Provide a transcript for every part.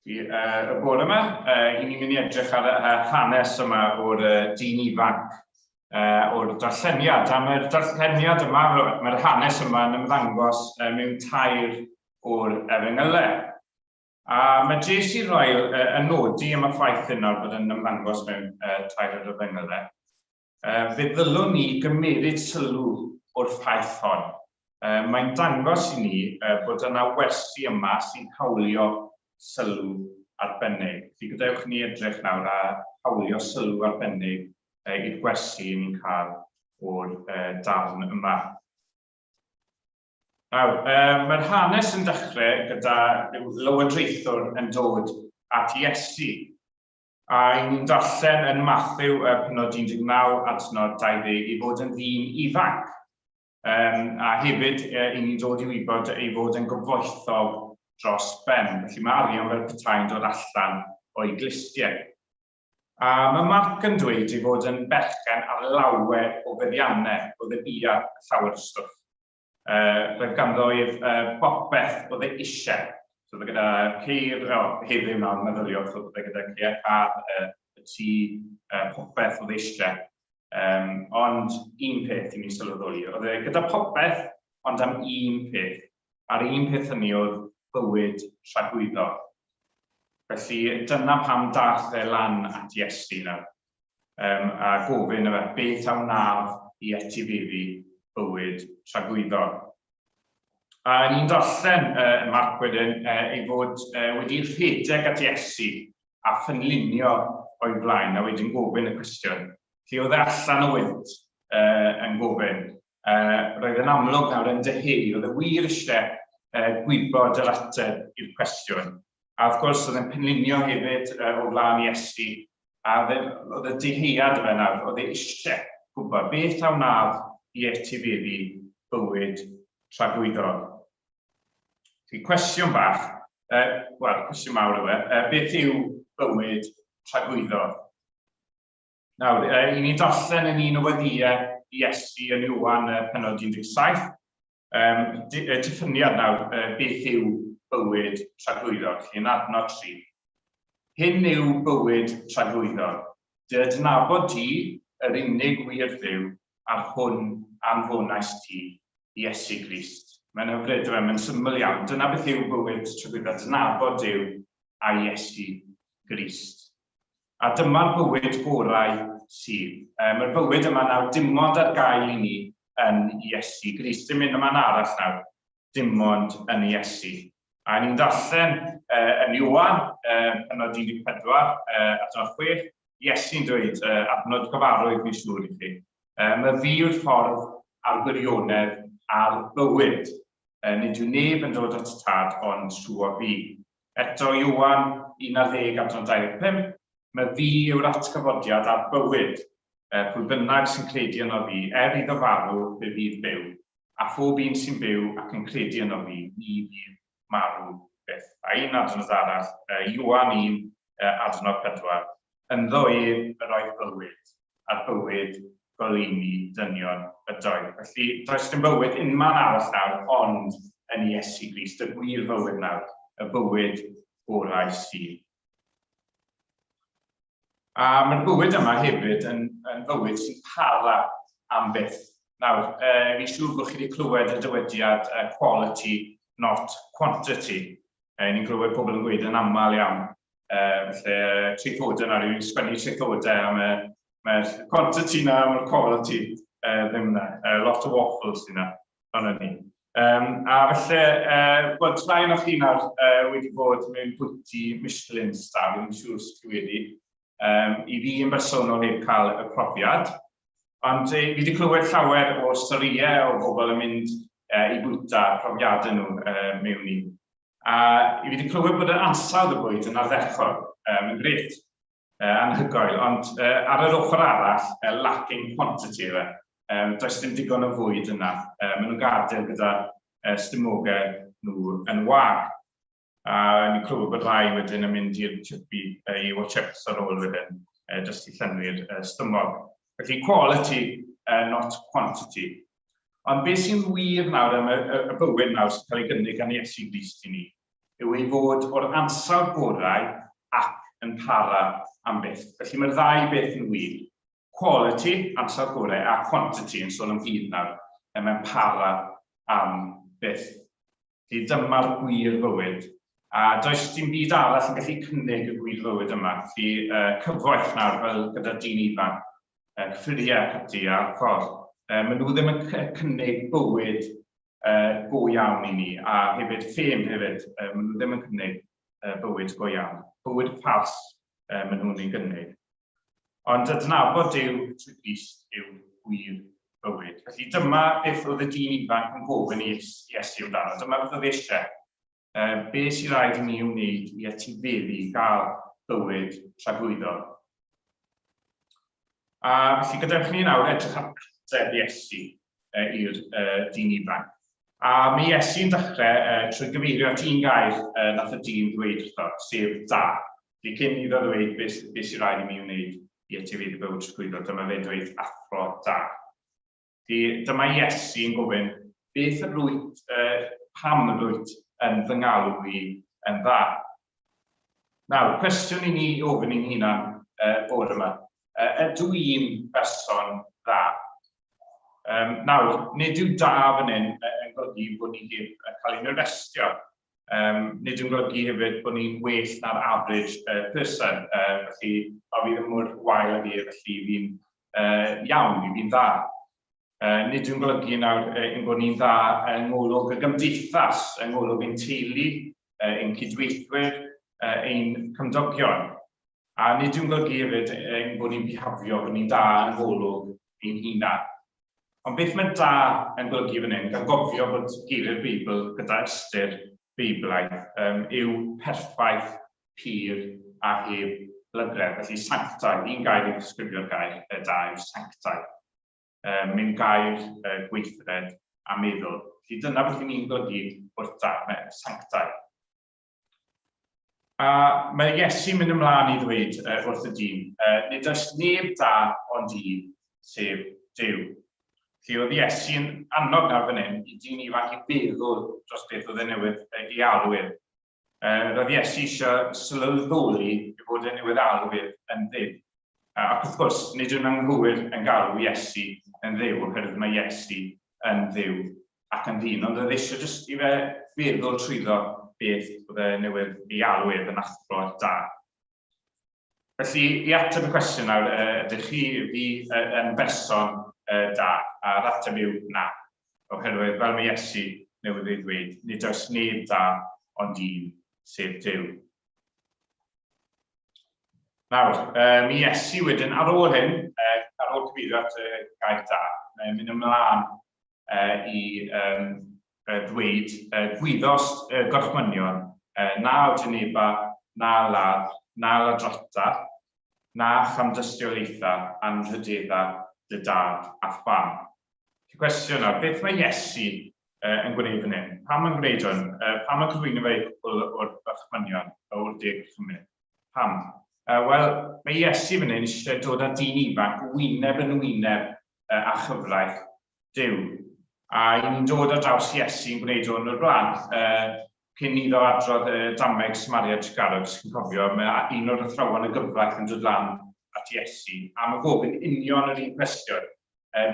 uh, y bore yma. Uh, I ni'n mynd i edrych ar y hanes yma o'r uh, dyn ifanc, uh, o'r darlleniad. Am yr darlleniad yma, mae'r hanes yma yn ymddangos uh, mewn tair o'r efengylau. A mae J.C. Royal uh, yn nodi am y ffaith yna bod yn ymddangos mewn uh, tair o'r efengylau. Fe ddylwn ni gymeryd sylw o'r ffaith hon. Mae'n dangos i ni bod yna wersi yma sy'n hawlio sylw arbennig. Felly, gadewch ni edrych nawr a hawlio sylw arbennig i'r gwersi yn ni'n cael o'r darn yma. Nawr, mae'r hanes yn dechrau gyda rhyw lywodraethwr yn dod at Iesu. A y'n ni'n darllen yn Mathew y penod 19 adnod 20 ei fod yn ddyn ifanc, um, a hefyd y'n ni'n dod i wybod ei fod yn gyfoethog dros ben. Felly mae arian fel petai'n dod allan o'i glustiau. A mae Marc yn dweud ei fod yn berchen ar lawer o feddiannau o ddybiau llawer o stwff. Uh, roedd ganddo ef uh, bopeth oedd ei eisiau. So, oedd e gyda ceir, o, oh, heddiw nawr, meddyliwch, so, oedd e gyda ceir car, uh, y tŷ, uh, popeth oedd eisiau. Um, ond un peth i mi sylweddoli, oedd e gyda popeth, ond am un peth. A'r un peth hynny oedd bywyd rhagwyddo. Felly dyna pam dath e lan at Iesu nawr. um, a gofyn yma beth a wnaf i etifeddu bywyd tragwyddol. A ni'n darllen uh, yn Marc wedyn uh, ei fod uh, wedi rhedeg at Iesu a phynllunio o'i blaen, a wedyn gofyn y cwestiwn, lle oedd e allan o wynt uh, yn gofyn, Uh, roedd yn amlwg nawr yn dy hei, oedd y wir eisiau uh, gwybod yr ateb i'r cwestiwn. A wrth gwrs, oedd yn penlinio hefyd uh, o flaen i Esti, a oedd y deheuad yma nawr, oedd ei eisiau gwybod beth a wnaf i etifeddu bywyd tragwyddol. Felly, cwestiwn bach, uh, wel, cwestiwn mawr yw e, uh, beth yw bywyd tragwyddol? Nawr, uh, i ni darllen yn un o weddiau Iesu yn Iwan uh, penod 17, um, di, uh, diffyniad nawr, uh, beth yw bywyd tragwyddog, yn adnod 3. Hyn yw bywyd tragwyddog, dy adnabod ti yr unig wir ddew a'r hwn anfonais ti, Iesu Grist. Mae'n hyfryd, dyma, mae'n syml iawn. Dyna beth yw bywyd tragwyddog, adnabod Dyw a Iesu Grist. A dyma'r bywyd gorau sydd. Um, Mae'r bywyd yma nawr dim ond ar gael i ni yn Iesu Grist. Dim un yma'n arall nawr, dim ond yn Iesu. A ni'n darllen uh, yn Iwan, uh, penod 14, uh, at o'n chwech, Iesu'n dweud, uh, adnod cyfarwydd fi'n siŵr i chi, um, y fi yw'r ffordd a'r gwirionedd a'r bywyd. Uh, nid yw neb yn dod at tad ond trwy o fi. Eto Ioan 11 am John 25, Mae fi yw'r atgyfodiad a'r bywyd, yy, pwy bynnag sy'n credu yno fi, er iddo farw, fe fydd byw, a phob un sy'n byw ac yn credu yno fi, ni fydd marw byth. A un adnod arall, yy, Ioan 1, yy, adnod 4, Ynddo ef yr oedd bywyd, a'r bywyd goleuni dynion ydoedd. Felly, does dim bywyd unman arall nawr ond yn Iesu Grist, y gwir fywyd nawr, y bywyd gorau sydd. A mae'r bywyd yma hefyd yn, yn fywyd sy'n para am byth. Nawr, uh, fi siŵr bod chi wedi clywed y dywediad uh, quality, not quantity. Yy ni'n clywed pobl yn gweud yn aml iawn, yy falle traethodau na rywun sgwennu traethodau a mae mae'r quantity na mae'r quality uh, ddim na. Uh, lot o waffles sy'n na, ond ni. Um, a felly, uh, wel, tra un o'ch chi'n ar uh, wedi bod mewn bwyty Michelin star, yn siŵr sydd wedi, Um, I fi yn bersonol heb cael y profiad, ond e, fi wedi clywed llawer o storïau o bobl yn mynd e, i bwyta profiadau nhw e, mewn un. A fi wedi clywed bod yr ansawdd y bwyd yn ardderchog, um, yn gret, uh, anhygoel, ond uh, ar yr ochr arall, uh, lacking quantity yna. Um, does dim digon o fwyd yna. Um, maen nhw'n gadael gyda uh, stumogau nhw yn wag. A ni'n clywed bod rhai wedyn yn mynd i'r chippy i watch eps ar ôl wedyn, jyst i llenwi'r stumog. Felly quality, not quantity. Ond beth sy'n wir nawr am y bywyd nawr sy'n cael ei gynnig gan Iesu Grist i ni, yw ei fod o'r ansawdd gorau ac yn para am byth. Felly mae'r ddau beth yn wir. Quality, ansawdd gorau, a quantity, yn sôn am hyd nawr, mewn para am byth. Felly dyma'r gwir fywyd, a does dim byd arall yn gallu cynnig y gwir fywyd yma, felly uh, cyfoeth nawr fel gyda dyn ifanc, uh, cyffuriau ac ati a'r ffordd. Uh, maen nhw ddim yn cynnig bywyd uh, go iawn i ni, a hefyd ffêm hefyd, uh, maen nhw ddim yn cynnig uh, bywyd go iawn. Bywyd ffals uh, maen nhw'n ei gynnig. Ond adnabod Duw trwy Grist yw gwir bywyd. Felly dyma beth oedd y dyn ifanc yn gofyn i Iesu amdano. Dyma beth oedd eisiau. E, be sy'n rhaid i mi wneud i etifeddu i gael bywyd tragwyddol. A felly gadewch ni nawr edrych ar ateb Iesu e, i'r e, dyn ifanc. A mae Iesu'n dechrau e, trwy gyfeirio at un gair e, nath y dyn ddweud wrtho, sef da. Felly cyn iddo ddweud beth, beth sy'n rhaid i mi wneud i etifeddu bywyd trosglwyddo, dyma fe'n dweud athro da. Felly dyma Iesu yn gofyn, beth yr wyt, uh, pam yr wyt yn fy ngalw i yn dda? Nawr, cwestiwn i ni ofyn i'n hunan uh, bod yma. Uh, ydw i'n berson dda? Um, nawr, nid yw da fan hyn yn golygu bod ni heb cael ein arestio. Yym, nid yn golygu hefyd bod ni'n well na'r average yy person, yy felly a fi ddim mor wael ag e felly fi'n yy iawn, fi fi'n dda. Yy, nid yw'n golygu nawr yy, ein bod ni'n dda yng ngolwg y gymdeithas, yng ngolwg ein teulu, yy, ein cydweithwyr, yy, ein cymdogion. A nid yw'n golygu hefyd ein bod ni'n bihafio bod ni'n da yn Golwg ein hunan. Ond beth mae 'da' yn golygu fan hyn, gan gofio bod geiriau'r Beibl gyda ystyr Beiblaidd, yym, yw perffaith, pur a heb lygredd. Felly sanctaidd, un gair i ddisgrifio'r gair 'da' yw sanctaidd. Yym, mewn gair, yy, gweithred a meddwl. Felly dyna beth 'y ni'n golygu wrth 'da', mae sanctaidd. A mae Iesu'n mynd ymlaen i ddweud uh, wrth y dyn, uh, nid oes neb da ond un, sef Dyw. Felly oedd Iesu'n annog nawr fan hyn i dyn ifanc i feddwl dros beth oedd e newydd ei alw ef. Uh, roedd Iesu eisiau sylweddoli i fod e newydd alw ef yn ddydd. Ac wrth gwrs, nid yw'n anghywir yn galw Iesu yn ddew, oherwydd mae Iesu yn fyw ac yn ddyn, ond oedd eisiau jyst i fe feddwl trwyddo beth oedd e newydd ei alw ef yn athro da. Felly, i ateb y cwestiwn nawr, ydych chi fi yn berson da? A'r ateb yw na. Oherwydd, fel mae Iesu newydd ei ddweud, nid oes neb da ond un, sef Dyw. Nawr, um, mi es i wedyn ar ôl hyn, uh, ar ôl cyfeirio at y uh, gair da, uh, mynd ymlaen uh, i um, uh, ddweud uh, gwyddos uh, gorchmynion uh, na o Geneva, na ladd, na ladrata, na chamdystiolaethau anrhydeddau dy dad a pham. Cwestiwn nawr, beth mae Iesu yn gwneud fan hyn? Pam yn gwneud hwn? Pam yn cyflwyno fe i cwpl o'r Bachmanion o'r De Cychymydd? Pam? Wel, mae Iesu fan hyn eisiau dod â dyn ifanc wyneb yn wyneb â chyfraith Duw. A y'n ni'n dod ar draws Iesu yn gwneud hwn o'r blaen? Cyn iddo adrodd y dameg Smariage Garrett, chi'n cofio, mae un o'r athrawon y gyfraith yn dod lan at Iesu am y gofyn union yr un cwestiwn,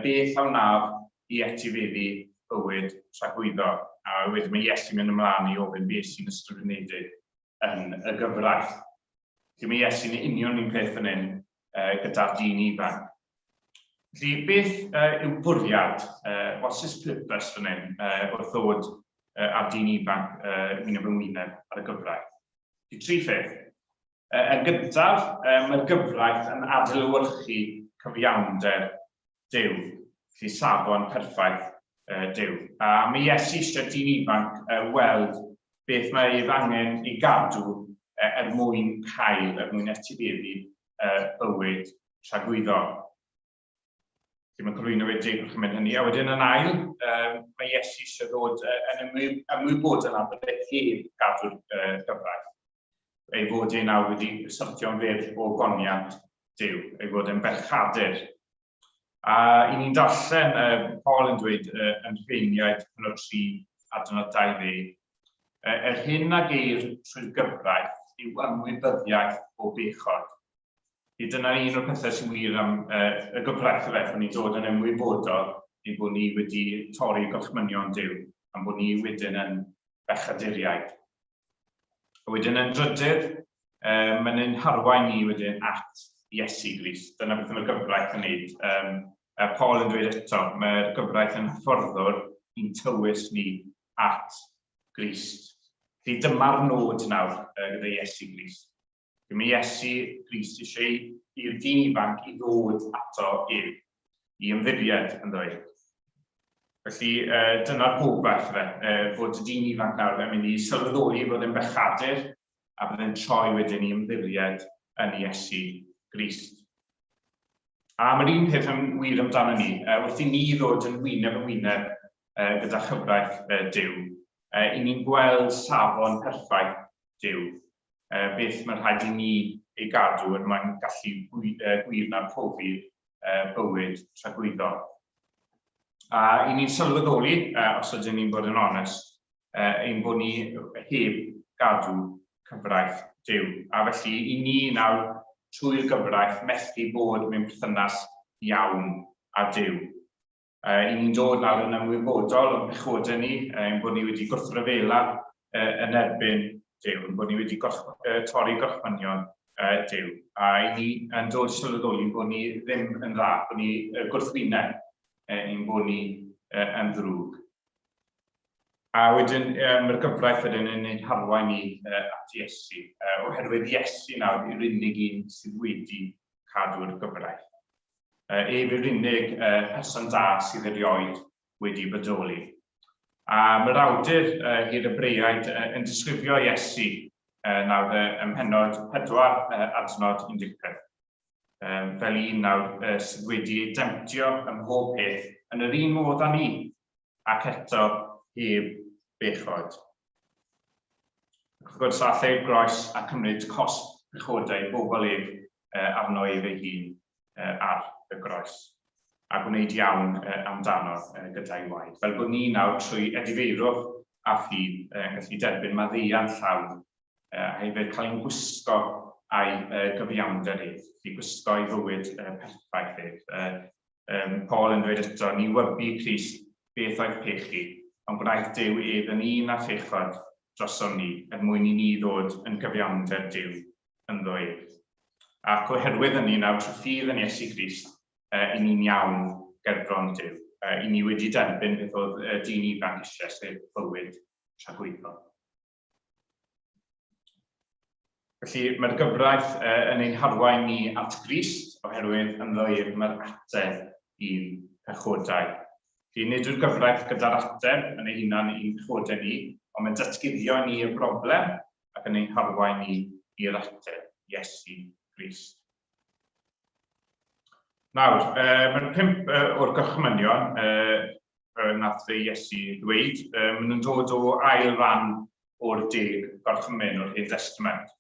beth a wnaf i etifeddu bywyd tragwyddo? A wedyn mae Iesu'n mynd ymlaen i ofyn beth sy'n ysgrifenedig yn y gyfraith. Felly mae Iesu'n union un peth fan hyn, gyda'r dyn ifanc. Felly, beth yw bwriad, what's his purpose fan hyn, wrth ddod â'r dyn ifanc wyneb yn wyneb ar y gyfraith? Felly, tri pheth. Yn gyntaf, mae'r gyfraith yn adlewyrchu cyfiawnder Duw. Felly safon perffaith Duw. A mae Iesu eisiau dyn ifanc weld beth mae ef angen ei gadw er mwyn cael, er mwyn etifeddu bywyd tragwyddol. Felly mae'n cyflwyno fe deg wrth mynd hynny. A wedyn yn ail, mae Iesu eisiau dod yn ymwybodol am bod e heb gadw'r gyfraith. ei fod e nawr wedi syrthio'n fyr o goniant Duw, ei fod e'n berchadur. A i ni'n darllen uh, Paul yn dweud uh, yn rheiniaid yn o'r tri adnod 20, uh, er hyn a geir trwy'r gyfraith yw ymwybyddiaeth o bechod. I dyna un o'r pethau sy'n wir am uh, y gyfraith y feth, ni'n dod yn ymwybodol ei bod ni wedi torri gorchmynion Dyw, am bod ni wedyn yn bechaduriaid. A wedyn yn drydydd, um, mae'n ein harwain ni wedyn at Iesu Grist. Dyna beth mae'r gyfraith yn neud. Um, a Paul yn dweud eto, mae'r gyfraith yn hyfforddwr i'n tywys ni at Grist. Felly dyma'r nod nawr gyda Iesu Grist. Be mae Iesu Grist eisiau i'r dyn ifanc i ddod ato ef, i ymddiried ynddo ef. Felly, uh, dyna'r gobaith fe, uh, fod y dyn ifanc nawr yn mynd i sylweddoli fod yn bechadur a byddai'n troi wedyn i ymddiried yn Iesu Grist. A mae'r un peth yn wir amdano ni, uh, wrth i ni ddod yn wyneb yn wyneb uh, gyda chyfraith uh, Dyw, uh, i ni'n gweld safon perffaith Duw, beth mae'n rhaid i ni ei gadw er mwyn gallu gwir na profi bywyd tragwyddol. A i ni'n sylweddoli, os ydyn ni'n bod yn onest, ein bod ni heb gadw cyfraith Duw. A felly, i ni nawr, trwy'r gyfraith, methu bod mewn perthynas iawn â Duw. Uh, I ni'n dod nawr yn ymwybodol o'n pechodau ni, uh, yn bod ni wedi gwrthryfela uh, yn erbyn Dyw, yn bod ni wedi gorch, uh, torri gorchmynion uh, Dyw. A i ni yn dod i sylweddoli bod ni ddim yn dda, bod ni uh, gwrthwyneb uh, i'n bod ni uh, yn ddrwg. A wedyn, um, mae'r gyfraith wedyn yn ein harwain ni uh, at Iesu, uh, oherwydd Iesu nawr yw'r unig un sydd wedi cadw'r gyfraith. ef yw'r unig person da sydd erioed wedi bodoli. A mae'r awdur i'r Ebreaid yn disgrifio Iesu nawr ym mhennod 4 adnod 15 fel un nawr sydd wedi ei demtio ym mhob peth yn yr un modd â ni, ac eto heb bechod. Ac wrth gwrs, all ei groes a cymryd cosb pechodau bobl ef arno ef ei hun ar y groes, a gwneud iawn amdano gyda'i waed, fel bod ni nawr trwy edifeirwch a ffydd yn gallu derbyn maddeuant llawn a hefyd cael ein gwisgo a'i gyfiawnder ef, felly gwisgo ei fywyd perffaith ef. um, Paul yn dweud eto, ni wybu Christ beth oedd pechu, ond gwnaeth Dyw ef yn un a phechod drosom ni, er mwyn i ni ddod yn gyfiawnder Dyw ynddo ef. Ac oherwydd hynny, nawr trwy ffydd yn Iesu Grist, uh, i ni'n iawn gerbron Dyw. Uh, i ni wedi derbyn beth oedd y dyn ifanc eisiau, sef bywyd tragwyddol. Felly, mae'r gyfraith yn ein harwain ni at Grist, oherwydd ynddo ef mae'r ateb i'n pechodau. Felly, nid yw'r gyfraith gyda'r ateb yn ei hunan i'n pechodau ni, ond mae'n datguddio i ni y broblem ac yn ein harwain ni i'r ateb, Iesu Grist. Nawr, uh, mae'n pimp uh, o'r gorchmynion uh, uh, nath fe Iesu ddweud, uh, maen nhw'n dod o ail ran o'r deg gorchmyn o'r Hen Testament.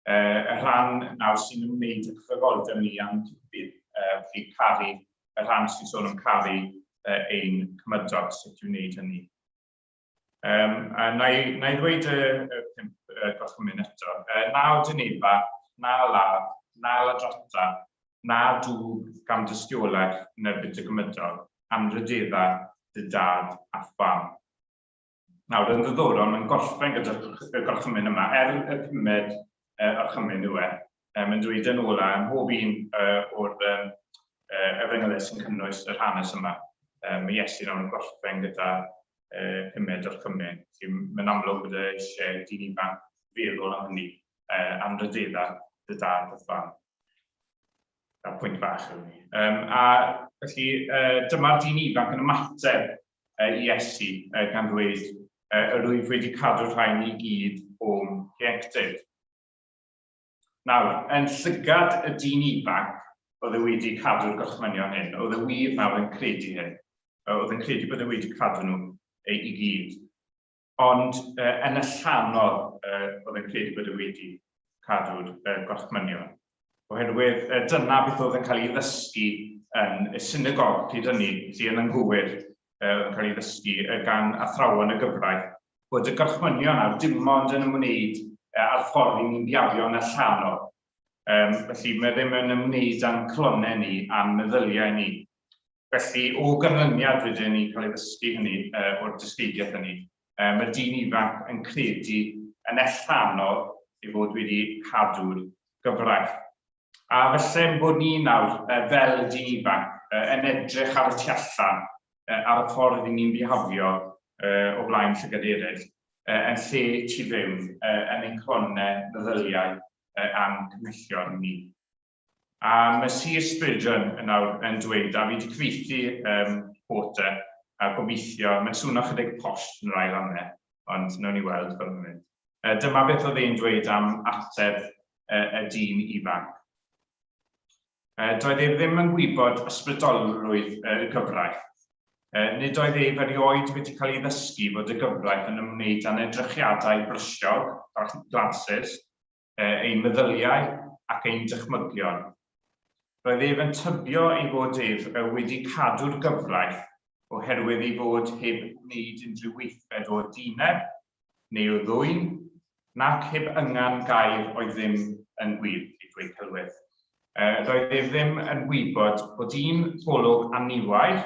Uh, y rhan nawr sy'n ymwneud â chyfroldeb ni a'n cyfyd, uh, felly caru, y rhan sy'n sôn am caru uh, ein cymydog, sut yw'n wneud hynny. Um, a na i, na i ddweud y, y pimp uh, gorchymyn eto. Uh, na o dyneba, na ladd, na ladrata, na dŵb gam dystiolaeth yn erbyn dy gymydog, am rydedda dy dad a fam. Nawr, yn ddiddorol, mae'n gorffen gyda'r gorchymyn yma, er y pumed yr orchymyn nhw e. Yym yn dweud yn ôl a ym mhob un yy o'r yym yy efengylau sy'n cynnwys yr hanes yma, yym mae Iesu nawr yn gorffen gyda yy pumed orchymyn. Felly mae'n amlwg bod e eisiau dyn ifanc feddwl am hynny, yy am ryddedda dy dad a thlan. Dyna pwynt bach yw ni. Yym a felly yy dyma'r dyn ifanc yn ymateb Iesu, gan ddweud, Yr wyf wedi cadw'r rhain i gyd o'm hieuenctid. Nawr, yn llygad y dyn ifanc oedd e wedi cadw'r gorchmynion hyn, oedd e wir nawr yn credu hyn, oedd yn credu bod e wedi cadw nhw i gyd. Ond uh, yn allanol, uh, oedd yn credu bod e wedi cadw'r uh, gorchmynion. Oherwydd uh, dyna beth oedd yn cael ei ddysgu yn y synagog pryd hynny, lle yn anghywir uh, yn cael ei ddysgu uh, gan athrawon y gyfraith, bod y gorchmynion ar dim ond yn ymwneud uh, â'r ffordd i ni'n biario yn allanol. Um, felly mae ddim yn ymwneud â'n clonau ni, a'n meddyliau ni, Felly, o ganlyniad wedyn i cael ei ddysgu hynny, o'r dysgeidiaeth hynny, mae'r dyn ifanc yn credu yn ellanol ei fod wedi cadw'r gyfraith. A falle ein bod ni nawr, fel y dyn ifanc, yn edrych ar y tu allan, ar y ffordd i ni'n bihafio o blaen llygad eraill, yn lle tu fewn, yn ein calonnau, meddyliau a'n cymhellion ni. A mae Sir Spurgeon yn awr yn dweud, a fi wedi cyfeithi um, Porter, a gobeithio, mae'n swnio chydig posh yn yr ail rannau, ond nawn ni weld fel mae'n mynd. Uh, dyma beth oedd ein dweud am ateb uh, y dyn ifanc. Uh, doedd ei ddim yn gwybod ysbrydolrwydd uh, y gyfraith. Uh, nid oedd ei ferioed wedi cael ei ddysgu fod y gyfraith yn ymwneud â'n edrychiadau brysiog, glasses, ein meddyliau ac ein dychmygion. Roedd ef yn tybio ei fod ef wedi cadw'r gyfraith oherwydd ei fod heb wneud unrhyw weithred o dyneb neu o ddwyn, nac heb yngan gair oedd ddim yn gwir, ei dweud Celwydd. Roedd ef ddim yn gwybod bod un golwg aniwair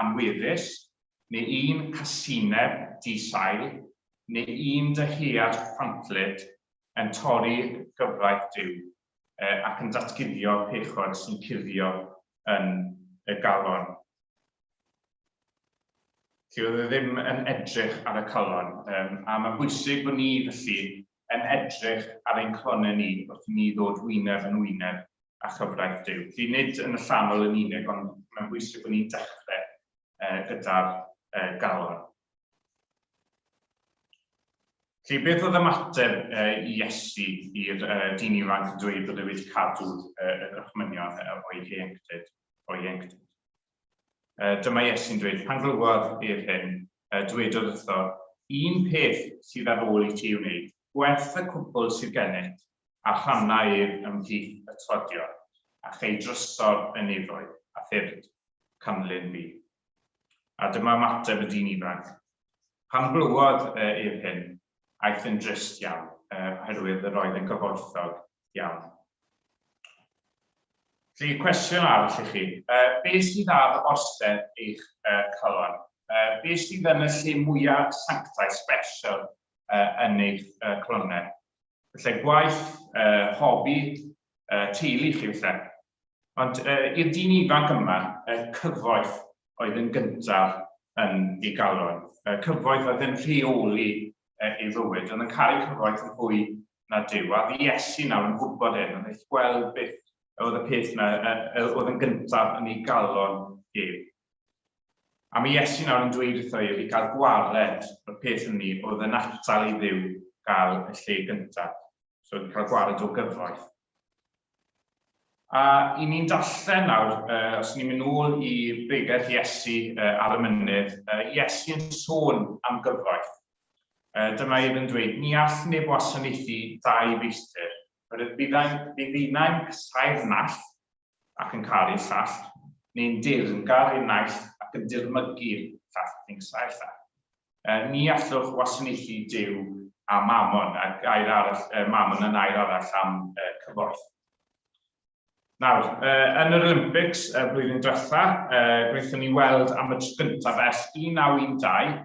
anweddus, neu un casineb di-sail, neu un dyhead ffantllyd yn torri gyfraith Duw, ac yn datguddio pechod sy'n cuddio yn y galon. Felly, oedd e ddim yn edrych ar y calon, a mae'n bwysig bod ni, felly, yn edrych ar ein calonnau ni wrth i ni ddod wyneb yn wyneb â chyfraith Duw. Felly, nid yn allanol yn unig, ond mae'n bwysig bod ni'n dechrau gyda'r galon. Felly, beth oedd ymateb uh, Iesu i'r uh, dyn ifanc yn dweud bod e wedi cadw uh, y gorchmynion o'i ieuenctid? O'i ieuenctid. Uh, dyma Iesu'n dweud, pan glywodd i'r hyn, uh, dwedodd wrtho, un peth sydd ar ôl i ti wneud, gwerth y cwbl sydd gennyt, a rhanna ef ymhlith y todion, a chei drysor yn efoedd, a thyrd, canlyn fi. A dyma ymateb y dyn ifanc. Pan glywodd ef hyn, aeth yn drist iawn, oherwydd yr oedd yn gyfoethog iawn. Felly, cwestiwn arall i chi. Be sydd ar orsedd eich calon? Be sydd yn y lle mwyaf sanctaidd, special, yn eich calonnau? Felly, gwaith, hobi, teulu chi felly. Ond i'r dyn ifanc yma, y cyfoeth oedd yn gyntaf yn ei galon. Y cyfoeth oedd yn rheoli ei fywyd. Oedd yn caru cyfoeth yn fwy na Duw. A oedd Iesu nawr yn gwybod hyn, oedd eich gweld beth oedd y peth yna oedd yn gyntaf yn ei galon ef. A mae Iesu nawr yn dweud wrtho ef i gael gwared o'r peth hynny oedd yn atal i ddiw gael y lle gyntaf. So, cael gwared o gyfoeth. A i ni'n darllen nawr, os ni'n mynd nôl i bregeth Iesu ar y mynydd, Iesu yn sôn am gyfoeth. Dyma ef yn dweud, Ni all neb wasanaethu dau feistr. Byddai'n casáu'r naill ac yn caru llall, neu'n dir yn garu naill ac yn dirmygu'r llall ac yn casáu'r llall. Ni allwch wasanaethu Duw a Mammon, a gair arall, Mammon yn air arall am cyfoeth. Nawr, yn yr Olympics y flwyddyn diwetha, gwnaethon ni weld am y tro gyntaf ers 1912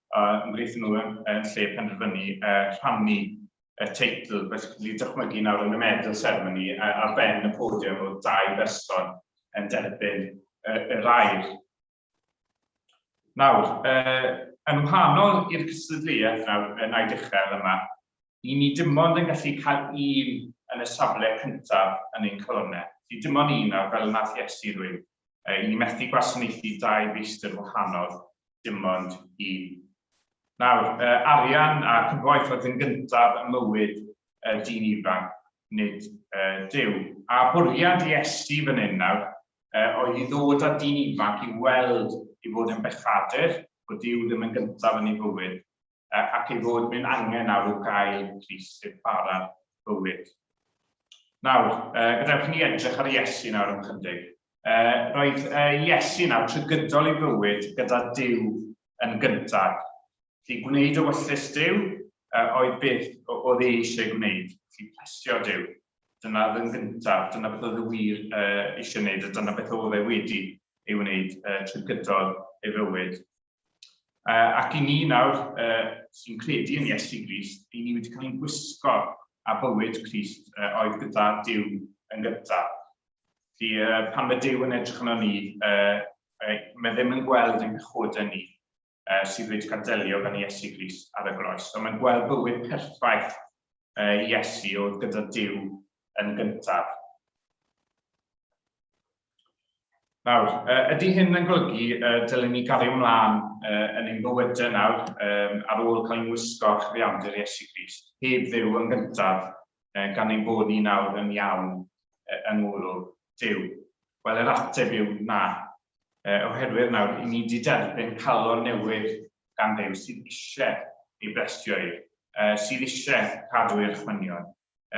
a wnaethon nhw yn lle penderfynu rhannu y teitl, fel chi'n gallu dychmygu nawr yn y medal ceremony, ar ben y podium oedd dau berson yn derbyn yr air. Nawr, yn wahanol i'r cystadleuaeth nawr yn Aid Uchel yma, Ni ni dim ond yn gallu cael un yn y safle cyntaf yn ein colonnau. Felly dim ond un, a fel y wnaeth Iesu ddweud, i ni methu gwasanaethu dau feistr wahanol, dim ond un. Nawr, arian a cyfoeth oedd yn gyntaf ym mywyd y dyn ifanc, nid Duw. A bwriad Iesu fan hyn nawr oedd i ddod â dyn ifanc i'w weld i fod yn bechadur, bod Duw ddim yn gyntaf yn ei fywyd, ac ei fod yn angen arw gael pris i'r bara bywyd. Nawr, gadewch ni edrych ar Iesu nawr am chydig. Roedd Iesu nawr trwy gydol ei fywyd gyda Dyw yn gyntaf. Felly gwneud y wyllus Dyw oedd beth oedd ei eisiau gwneud, felly plesio Dyw. Dyna oedd yn gyntaf, dyna beth oedd y wir eisiau gwneud, a dyna beth oedd e wedi ei wneud trwy gydol ei fywyd. Ac i ni nawr sy'n credu yn Iesu Grist, i ni wedi cael ein gwisgo a bywyd Crist oedd gyda Duw yn gyntaf. Felly pan mae Duw yn edrych yno ni, mae ddim yn gweld yn pechoda ni sydd wedi cael delio gan Iesu Grist ar y groes. So mae'n gweld bywyd perffaith Iesu oedd gyda Duw yn gyntaf. Nawr, ydy hyn yn golygu y dylem ni gario mlaen yn ein bywydau nawr ar ôl cael ein wisgo â chyfiawnder Iesu Grist, heb Dduw yn gyntaf, gan ein bod ni nawr yn iawn yng ngwrw Duw? Wel, yr ateb yw na, oherwydd nawr i ni wedi derbyn calon newydd gan Dduw sydd eisiau ei blesio i, sydd eisiau cadw ei orchmynion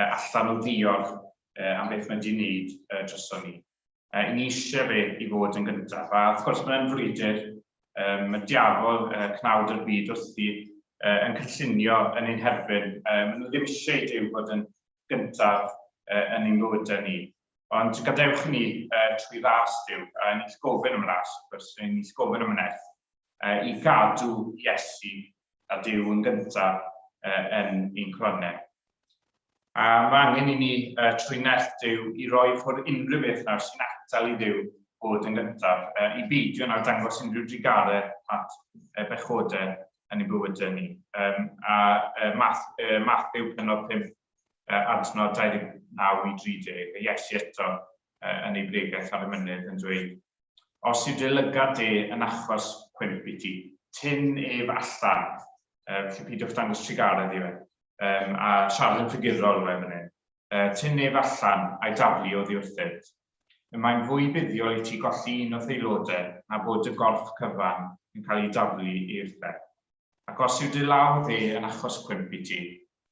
allan o ddiolch am beth mae 'di 'neud droson ni. Yy ni eisiau fe i fod yn gyntaf, a wrth gwrs mae'n frwydr, um, mae diafol uh, cnawd yr byd wrthi uh, yn cynllunio yn ein herbyn. Uh, maen nhw ddim eisiau i Duw fod yn gyntaf uh, yn ein bywydau ni. Ond gadewch ni uh, trwy ras Dyw, a ni'n gofyn am ras, wrth gwrs, ni'n gofyn am wnaeth, uh, i gadw Iesu a Duw yn gyntaf yn ein kuranau. A mae angen i ni trwy nerth Duw i roi ffwrdd unrhyw beth nawr sy'n atal i Dduw bod yn gyntaf, i beidio nawr dangos unrhyw drigaredd at bechodau yn ein bywydau ni. A Matthew penod 5 adnod 29 i 30, a Iesu eto yn ei bregeth ar y mynydd yn dweud, Os yw dy lygad de yn achos cwymp i ti, tyn ef allan. Yym, felly peidiwch dangos trugaredd i fe. Yym, a siarad yn ffigurol yw e fan hyn. Yy, tyn ef allan, a'i daflu oddi wrthynt. Y mae'n fwy buddiol i ti golli un o'th aelodau na bod dy gorff cyfan yn cael ei daflu i wrthau. Ac os yw dy law dde yn achos cwymp i ti,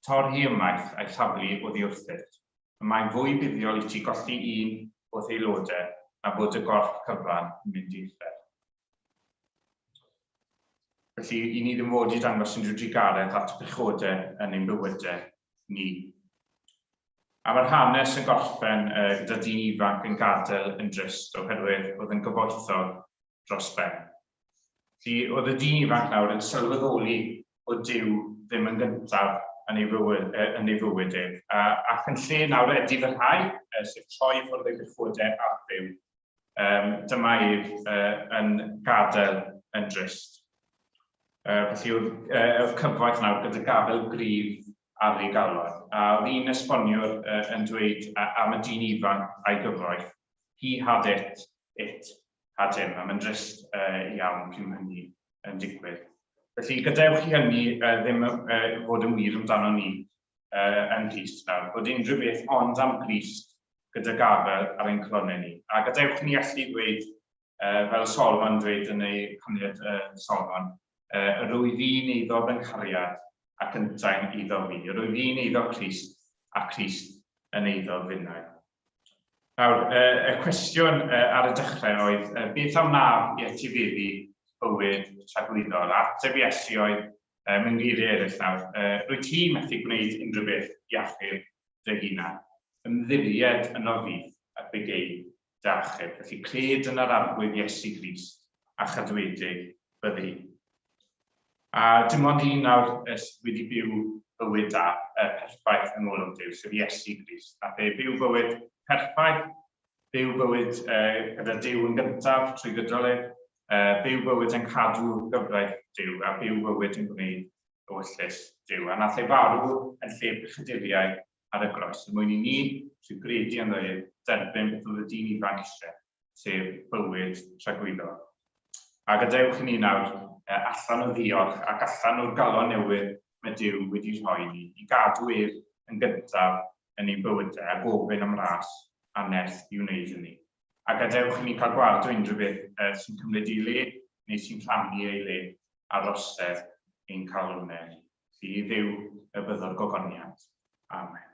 torr hi ymaith a'i thaflu oddi wrthyt. Y mae'n fwy buddiol i ti golli un o dy aelodau na bod dy gorff cyfan yn mynd i uffern. Felly, i ni ddim fod i dangos unrhyw drugaredd at y pechodau yn ein bywydau ni. A mae'r hanes yn gorffen gyda dyn ifanc yn gadael yn drist oherwydd bod yn gyfoethog dros ben. Felly, oedd y dyn ifanc nawr yn sylweddoli bod Duw ddim yn gyntaf yn ei fywyd, yn ei fywyd ef, ac yn lle nawr edifarhau, sef troi ffwrdd ei gychwydau ar Dduw, um, dyma ef uh, yn gadael yn drist. Uh, felly oedd, uh, oedd cyfoeth nawr gyda gafael grif ar ei galon. A oedd un esboniwr uh, yn dweud uh, am y dyn ifanc a'i gyfoeth, he had it, it, pa dim, a mae'n drist iawn cyn ma' hynny yn digwydd. Felly, gadewch i hynny ddim fod yn wir amdano ni yn Nghrist nawr, bod unrhyw beth ond am Grist gyda gafael ar ein calonnau ni. A gadewch ni allu dweud, fel Solomon dweud yn ei Hanniad Solomon, yr wyf i'n eiddo fy nghariad ac yntau'n eiddo fi, yr wyf i'n eiddo Crist, a Crist yn eiddo finnau. Nawr, y cwestiwn ar y dechrau oedd, beth a wnaf i etifeddu bywyd tragwyddol? A ateb Iesu oedd, mewn geiriau eraill nawr, rwyt ti methu gwneud unrhyw beth i achub dy hunan. Ymddiried ynof fi, a bygei dy achub. Felly, cred yn yr Arglwydd Iesu Grist, a chadwedig byddi. A dim ond un nawr sydd wedi byw bywyd da, yy, perffaith yn ôl am Duw, sef Iesu Grist. Nath e byw bywyd perffaith, byw bywyd uh, gyda Duw yn gyntaf trwy gydol e, uh, byw bywyd yn cadw gyfraith Duw, a byw bywyd yn gwneud ewyllys Duw. A nath e farw yn lle pechaduriaid ar y groes er mwyn i ni sy'n gredu ynddo ef dderbyn beth oedd y dyn ifanc eisiau, sef bywyd tragwyddol. A gadewch i ni nawr eh, allan o ddiolch ac allan o'r galon newydd mae Dyw wedi rhoi ni, i gadw ef yn gyntaf yn ein bywydau a gofyn am ras a nerth i wneud hynny. A gadewch i ni cael gweld o unrhyw beth eh, sy'n cymryd ei le neu sy'n rhannu ei le ar rosedd ein calonnau ni. Ti, Dduw, y byddo'r gogoniant. Amen.